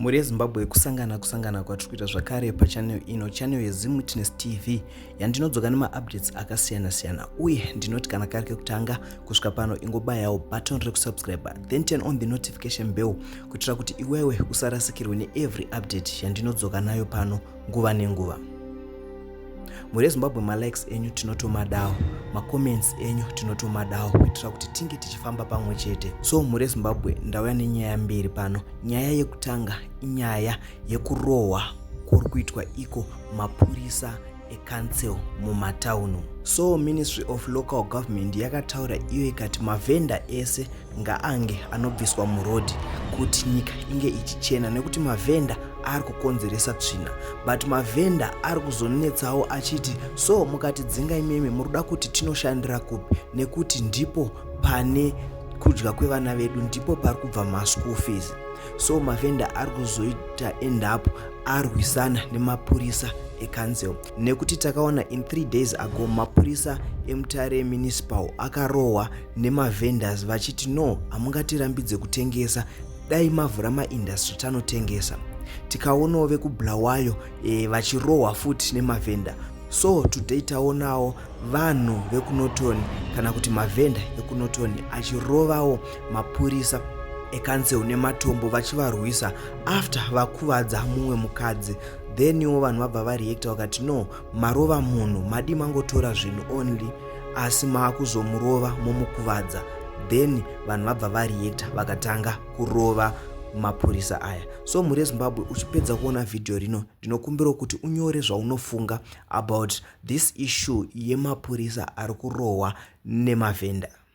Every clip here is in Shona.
mhuri yezimbabwe kusangana kusangana kwatiri kuita zvakare pachanel ino chanel yezimwitness tv yandinodzoka nemaupdates akasiyana siyana uye ndinoti kana kari kekutanga kusvika pano ingobayawo button rekusubscribe then turn on the notification bell kuitira kuti iwewe usarasikirwe neevery update yandinodzoka nayo pano nguva nenguva mhuri yezimbabwe malikes enyu tinotomadawo macomments enyu tinotomadawo kuitira kuti tinge tichifamba pamwe chete so mhuri yezimbabwe ndauya nenyaya mbiri pano nyaya yekutanga inyaya yekurohwa kuri kuitwa iko mapurisa ecouncil mumataunu so ministry of local government yakataura iyo ikati mavhenda ese ngaange anobviswa murodhi kuti nyika inge ichichena nekuti mavhenda ari kukonzeresa tsvina but mavhenda ari kuzonetsawo achiti so mukati dzinga imimi muri kuda kuti tinoshandira kupi nekuti ndipo pane kudya kwevana vedu ndipo pari kubva maschool fees so mavhenda ari kuzoita endapo arwisana nemapurisa ekanzel nekuti takaona in three days ago mapurisa emutare municipal akarohwa nemavendors vachiti no hamungatirambidze kutengesa dai mavhura maindustry tanotengesa tikaonawo vekubulawayo e, vachirohwa futi nemavhenda so today taonawo vanhu vekunotoni kana kuti mavhenda ekunotoni achirovawo mapurisa ekansel nematombo vachivarwisa after vakuvadza mumwe mukadzi then iwo vanhu vabva vareacta vakati no marova munhu madii mangotora zvinhu only asi maakuzomurova momukuvadza then vanhu vabva vareacta vakatanga kurova mapurisa aya so mhuri yezimbabwe uchipedza kuona vhidhiyo rino ndinokumbirawo kuti unyore zvaunofunga about this issue yemapurisa ari kurohwa nemavhenda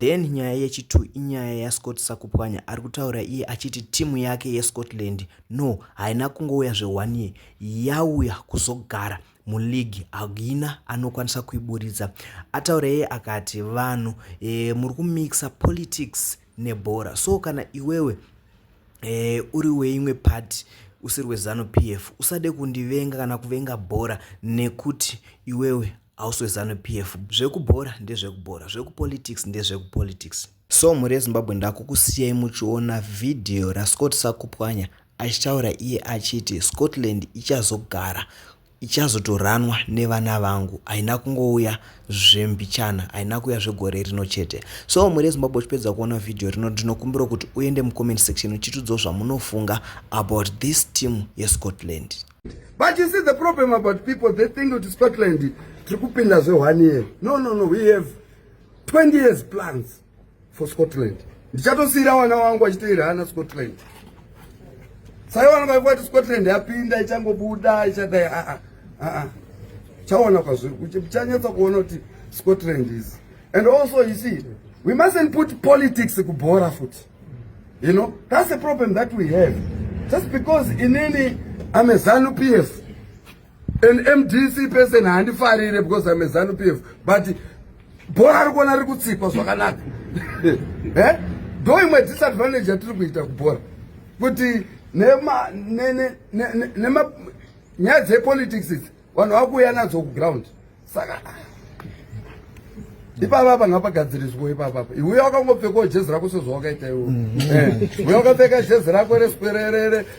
Then nyaya yechitu inyaya yaScott Sakupwanya ari kutaura iye achiti timu yake yeScotland no haina kungouya zve-one year yauya kuzogara muligi haina anokwanisa kuiburitsa. Ataura iye akati vanhu e, muri kumixa politics nebhora so kana iwewe e, uri weimwe party usiri wezanu p f usade kundivenga kana kuvenga bhora nekuti iwewe House weZanu PF zvekubhora ndezvekubhora zvekupolitics ndezvekupolitics. So mhuri yeZimbabwe ndakukusiyai muchiona video raScott Sakupwanya achitaura iye achiti Scotland ichazogara ichazotoranwa nevana vangu haina kungouya zvembichana haina kuuya zvegore rino chete so mhuri yezimbabwe uchipedza kuona vhidhiyo rino ndinokumbira kuti uende mucomment section uchitudzawo zvamunofunga about this team yescotland But you see the problem about people, they think kuti Scotland tiri kupinda zve one year. No, no, no, we have 20 years plans for Scotland. Ndichatosiira vana wangu vachiteera hana Scotland. Sai vana vaiva kuti Scotland yapinda ichangobuda ichadai a a a a. Chaona kwazviri kuti chanyatsa kuona kuti Scotland is. And also you see, we mustn't put politics kubhora futi. You know, that's the problem that we have. Just because in any, I'm a ZANU PF. An MDC person handifarire because I'm a ZANU PF. But bhora ari kuona riri kutsikwa zvakanaka eh? ndo imwe disadvantage yatiri kuita kubhora kuti nyaya dzepolitics idzi vanhu vakuuya nadzo kuground saka ipapa panga pagadziriswa ipapa iwe wakangopfekawo jezi rako sezvawakaita iwe mm. eh, uye wakapfeka jezi rako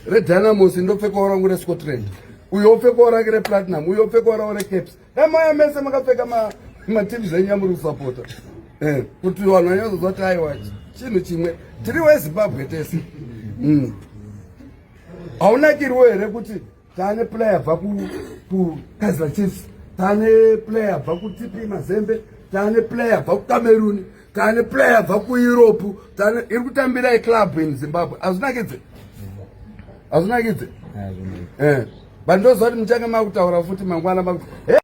redynamos ndopfekawo rangu rescotland uyo opfekawo rake replatinum uyo opfekawo rawo recaps damaya mese makapfeka mateam zvenyu yamuri kusapota eh, kuti vanhu vanyazoziva kuti aiwa chinhu chimwe tiri wezimbabwe tese mm. haunakiriwo here kuti tane player bva ku ku Kaizer Chiefs tane player bva ku TP Mazembe tane player bva ku Cameroon tane player bva ku Europe tane iri kutambira e club in Zimbabwe azvinakidze azvinakidze eh bandoziva kuti muchange makutaura futi mangwana makuti hey!